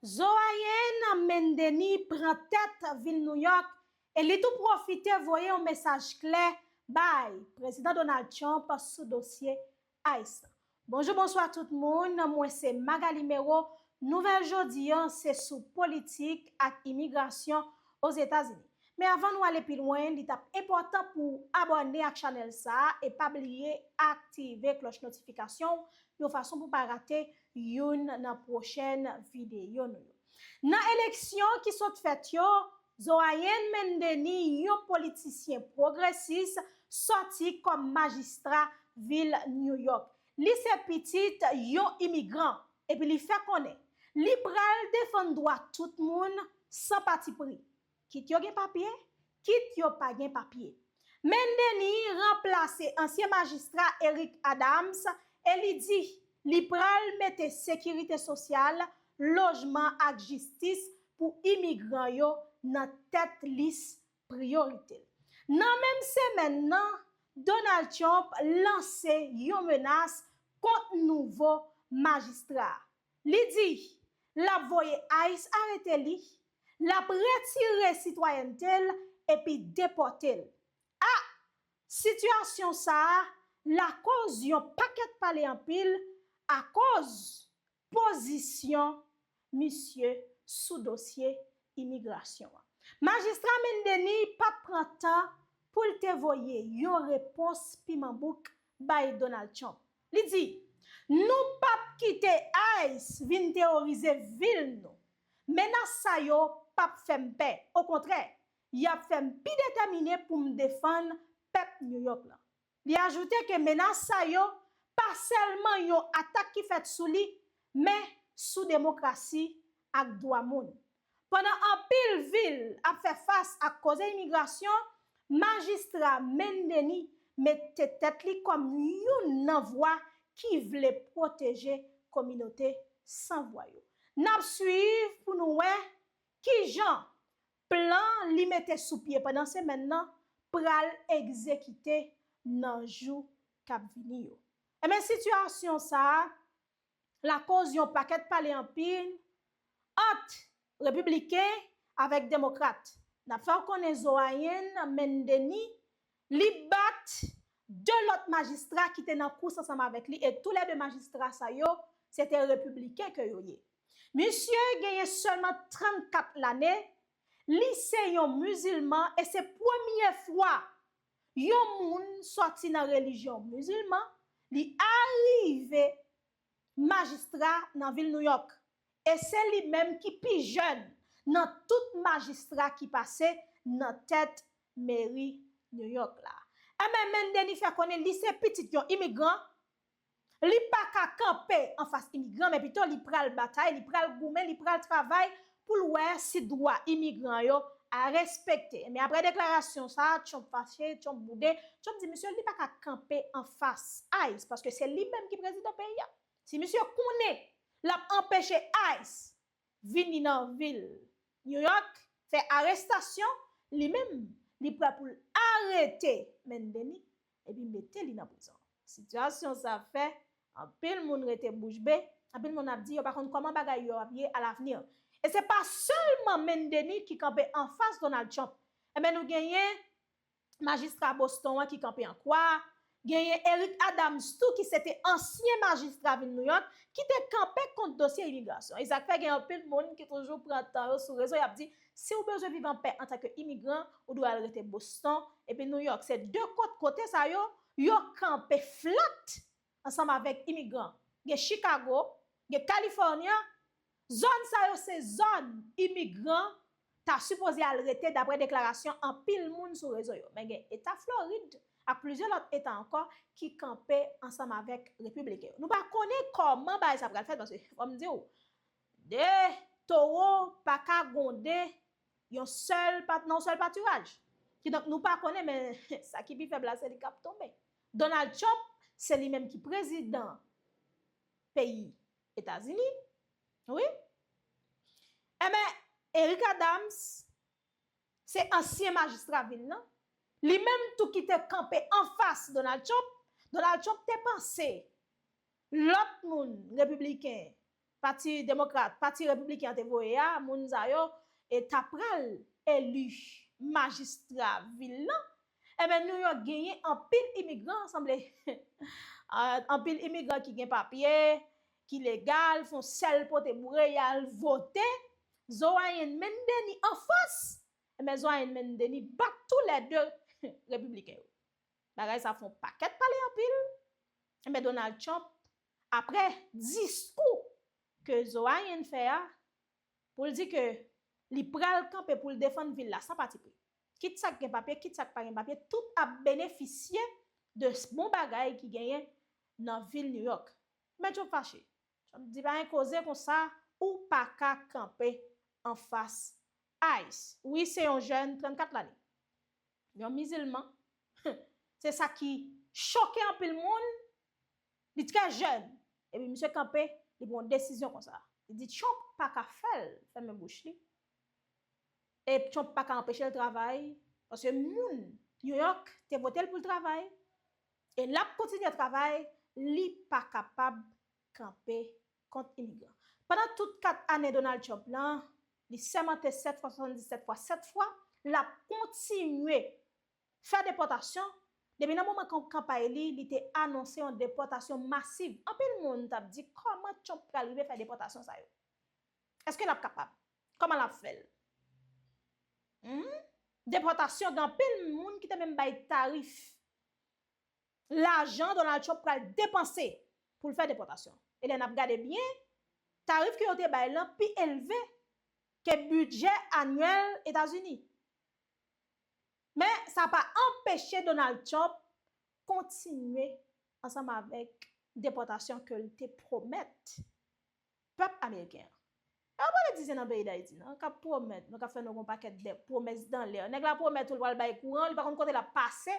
Zoayen Mendemi pran tèt vil Nouyòk e li tou pwofite voye yon mesaj klè bay Prezidan Donald Trump sou dosye ice la. Bonjou bonswa tout moun, mwen se Magalie Mérot, nouvèl jodi an se sou politik ak imigrasyon Ozetazini. Men avan nou ale pi lwen li tap enpòtan pou w abòne ak chanèl sa e pa bliye aktive klòch notifikasyon w yon fason pou w pa rate youn nan pwochèn videyo nou yo. Nan eleksyon ki sot fèt yo, Zohayen Mendeni, yon politisyen pwogresis, sòti kòm majistra vil New York. Li se pitit yon imigran epi li fè konnen li pral defann dwa tout moun san patipri. Kit yo gen papye, kit yo pa gen papye. Men Denis ranplase ansyen majistra Eric Adams e li di li pral mete sekirite sosyal, lojman ak jistis pou imigran yo nan tèt lis priyorite l. Nan menm semèn nan, Donald Trump lanse yon menas kont nouvo majistra a. Li di l ap voye ice arete li, l ap retire sitwayènte l epi depòte l. A Sitiyasyon sa a lakoz yon pakèt pale anpil akoz pozisyon misye sou dosye imigrasyon an. Majistra Mendeniy pa t pran tan pou l te voye yon repons piman bouk bay Donald Trump. Li di, Nou pap kite ice vin teworize vil nou. Menas sa yo pap fè m pè, okontrè, y ap fè m pi detèmine pou m defann pèp New York la. Li ajoute ke menas sa yo pa sèlman yon atak ki fèt sou li, men sou demokrasi ak dwa moun. Pandan anpil vil ap fè fas ak koze imigrasyon, Majistra Mendeny mete tèt li kòm youn nan vwa ki vle pwoteje kominote san vwa yo. N ap swiv pou nou wè ki jan plan li mete sou pye pandan semèn nan pral egzekite nan jou k ap vini yo. Enben sitiyasyon sa a lakoz yon pakèt pale anpil ant repibliken avèk demokrat. N ap fè w konnen Zoayen Mendeni li bat 2 lòt majistra ki te nan kous ansanm avèk li e tou lè 2 majistra sa yo se te repibliken ke yo ye. Misye genyen sèlman 34 lane, li se yon mizilman e se premye fwa Yon moun sòti nan relijyon mizilman, li arive majistra nan vil Nouyòk, e se li menm ki pi jèn nan tout majistra ki pase nan tèt meri Nouyòk la. Enben, Mendeni fè konnen li se pitit yon imigran, Li pa ka kanpe anfas imigran men pito li pral batay, li pral goumen, li pral travay pou l wè si dwa imigran yo respekte. Men aprè deklarasyon sa a, Trump fache, Trump boude, Trump di misye li pa ka kanpe anfas ice paske se li menm ki prezidan peyi a. Si misye konnen l ap anpeche ice vini nan vil New York fè arestasyon, li menm li prè pou l arete Mendeni epi mete li nan prizon. Sitiyasyon sa fè anpil moun rete bouch be, anpil moun ap di yo pa konn kòman bagay yo ap ye alavni. E se pa sèlman Main Denis ki kanpe anfas Donald Trump, enben nou genyen majistra Boston an ki kanpe an kwa, genyen Eric Adams tou ki se te ansyen majistra vil New York ki te kanpe kont dosye imigrasyon. E sa k fè gen anpil moun ki toujou pran tan yo sou rezo y ap di Si ou bezwen viv an pè antanke imigran, ou dwe al rete Boston epi New York. Se de kot kote sa yo, yo kanpe flat ansanm avèk imigran. Gen Chicago, gen California, zòn sa yo se zòn imigran ta sipoze al rete dapre deklarasyon anpil moun sou rezo yo. Men gen eta Florid ak plizyè lòt eta ankò ki kanpe ansanm avèk repibliken yo. Nou pa konnen kòman bagay sa pral fèt paske fò m di ou, 2 towo pa ka gonde yon sèl pa nan yon sèl patiraj. Ki donk nou pa konnen men sa ki pi fèb la se li kap tonbe. Donald Trump se li menm ki prezidan peyi Etazini wi. Enben Eric Adams se ansyen majistra vil lan, li menm tou ki te kanpe anfas Donald Trump, Donald Trump te panse Lòt moun, Repibliken, Pati Demokrat, Pati Repibliken an te voye a, moun sa yo e ta pral eli majistra vil lan. Enben New York genyen anpil imigran, sanble anpil imigran ki gen papye, ki legal, fon sèl pote boure y al vote. Zorayen menn Denis anfas! Enben Zorayen menn Denis bat tou lè de Repibliken yo. Bagay sa fon pakèt pale anpil, enben Donald Trump aprè diskou ke Zohain fè a pou l di ke li pral kanpe pou l defann vil la san pati pri. Kit sa k gen papye, kit sa k pa gen papye, tout ap benefisye de bon bagay ki genyen nan vil New York. Men Trump fache. Trump di pa gen koze konsa, ou pa ka kanpe anfas ice. Wi se yon jèn 34 lane. Yon mizilman, Hum! Se sa ki choke anpil moun. Li trè jèn. Epi misye kanpe, li pran yon desizyon konsa. Li di Trump pa ka fè l fèmen bouch li. E Trump pa ka anpeche l travay. Paske moun New York te vote l pou l travay. E l ap kontinye travay. Li pa kapab kanpe. kont imigran. Pandan tout 4 ane Donald Trump la, li sèmante 7 fwa, 77 fwa, 7 fwa, l ap kontinye fè depòtasyon, depi nan moman kanpay li, li te anonse yon depòtasyon masiv. Anpil moun t ap di kòman Trump pral rive fè depòtasyon sa yo? Eske l ap kapab? Kòman l ap fè l? Humm, depòtasyon gen anpil moun ki te menm bay tarif. K lajan Donald Trump pral depanse pou l fè depòtasyon. E lè n ap gade byen, tarif ke yo te bay lan pi elve ke bidjè anyèl Etazini. Men sa pa anpeche Donald Trump kontinye ansanm avèk depòtasyon ke l te pwomèt Pèp ameriken an. E pa politisyen nan peyi Dayiti nan kap pwomèt nou, kap fè nou yon pakèt de pwomès dan lè. Nèg la pwomèt ou l pral bay kouran, li pa konn kote lap pase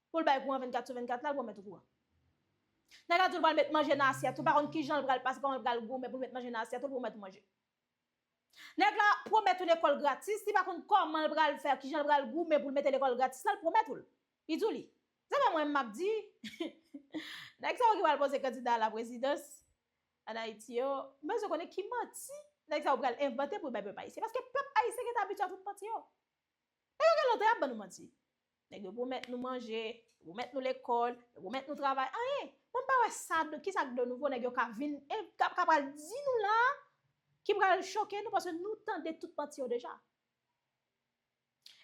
pou l bay kouran 24 sou 24 la, l pwomèt ou kouran. Nèg la di ou l pral met manje nan asyèt ou, pa konn kijan l pral pase, kòman l pral goumen pou l met manje nan asyèt ou, l pwomèt ou manje. Nèg la pwomèt ou lekòl gratis, li pa konn kòman l pral fè, kijan l pral goumen pou l mete lekòl gratis la, l pwomèt ou l. Li di w li. Se pa mwen map di. Nèg sa yo ki pral poze kandida a la prezidans, An Ayiti yo bezwen konnen ki manti nèg sa yo pral envante pou yo bay pèp ayisyen. Paske pèp ayisyen gentan abitye a tout manti yo. Nèg yo gen lontan y ap ban nou manti. Nèg yo pwomèt nou manje, yo pwomèt nou lekòl, yo pwomèt nou travay, anyen. Mwen m pa wè sa, ki sa k de nouvo nèg yo ka vin, ka pral di nou la a, ki pral choke nou paske nou tande tout manti yo deja.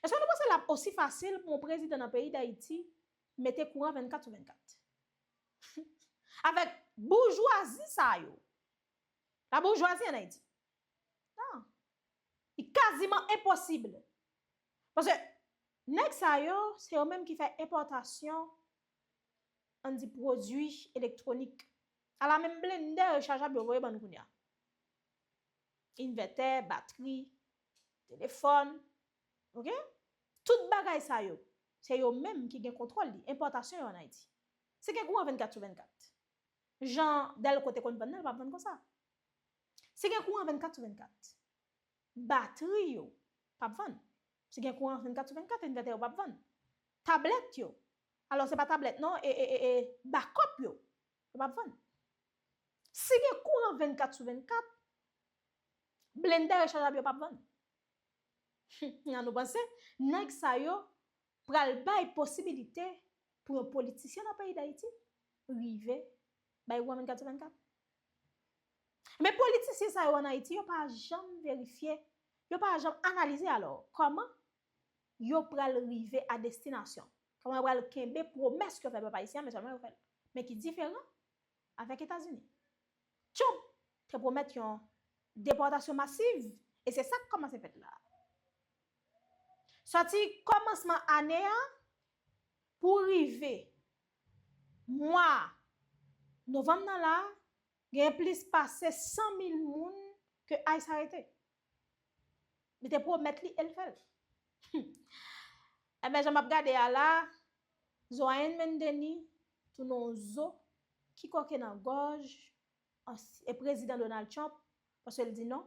Eske nou panse lap osi fasil pou yon prezidan nan peyi dayiti mete kouran 24 sou 24? Humm avèk boujwazi sa yo la boujwazi an ayiti nan li kaziman enposib paske nèg sa yo se yo menm ki fè enpòtasyon ann di pwodui elektwonik ala menm blendè rechajab yo voye bann kounya envètè batri telefòn, ok, tout bagay sa yo, se yo menm ki gen kontwòl li, enpòtasyon yo an Ayiti. Se gen kouran 24 sou 24. Jan Dèlko te konn vann nan, l pa vann konsa. Se gen kouran 24 sou 24. Batri yo, p ap vann. Se gen kouran 24 sou 24, envètè yo p ap vann. Tablèt yo, alò se pa tablèt non, e, e, e, bakòp yo, yo p ap vann. Si gen kouran 24 sou 24, Blende recharjab yo pap vann. Hum an nou panse nèg sa yo pral bay posibilite pou yon politisyen nan peyi dayiti rive bay goumen 24 sou 24? Men politisyen sa yo an ayiti yo pa janm verifye, yo pa janm analize alò kòman yo pral rive a destinasyon, kòman yo pral kenbe pwomès ke yo fè pèp ayisyen men sèlman yo fèl. Men ki diferan avèk Etazini. Trump te pwomèt yon depòtasyon masiv e se sa k kòmanse fèt la. Sòti kòmansman ane a pou rive mwa novanm nan la, genyen plis pase 100 mil moun ke ice arete. Li te pwomèt li e l fè l. Humm. Enben jan m ap gade a la, zo a N. Mendeni tounen yon zo ki kòke nan gòj ansyen prezidan Donald Trump paske l di non,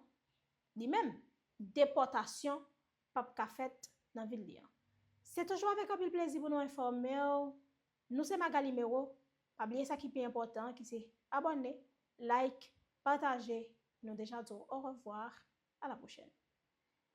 li menm, depòtasyon p ap ka fèt nan vil li an. Se toujou avèk anpil plezi pou nou enfòme w. Nou se Magalie Merau, pa bliye sa ki pi enpòtan an ki se abòne, like, pataje, nou deja di w orevwa, a la pwochèn.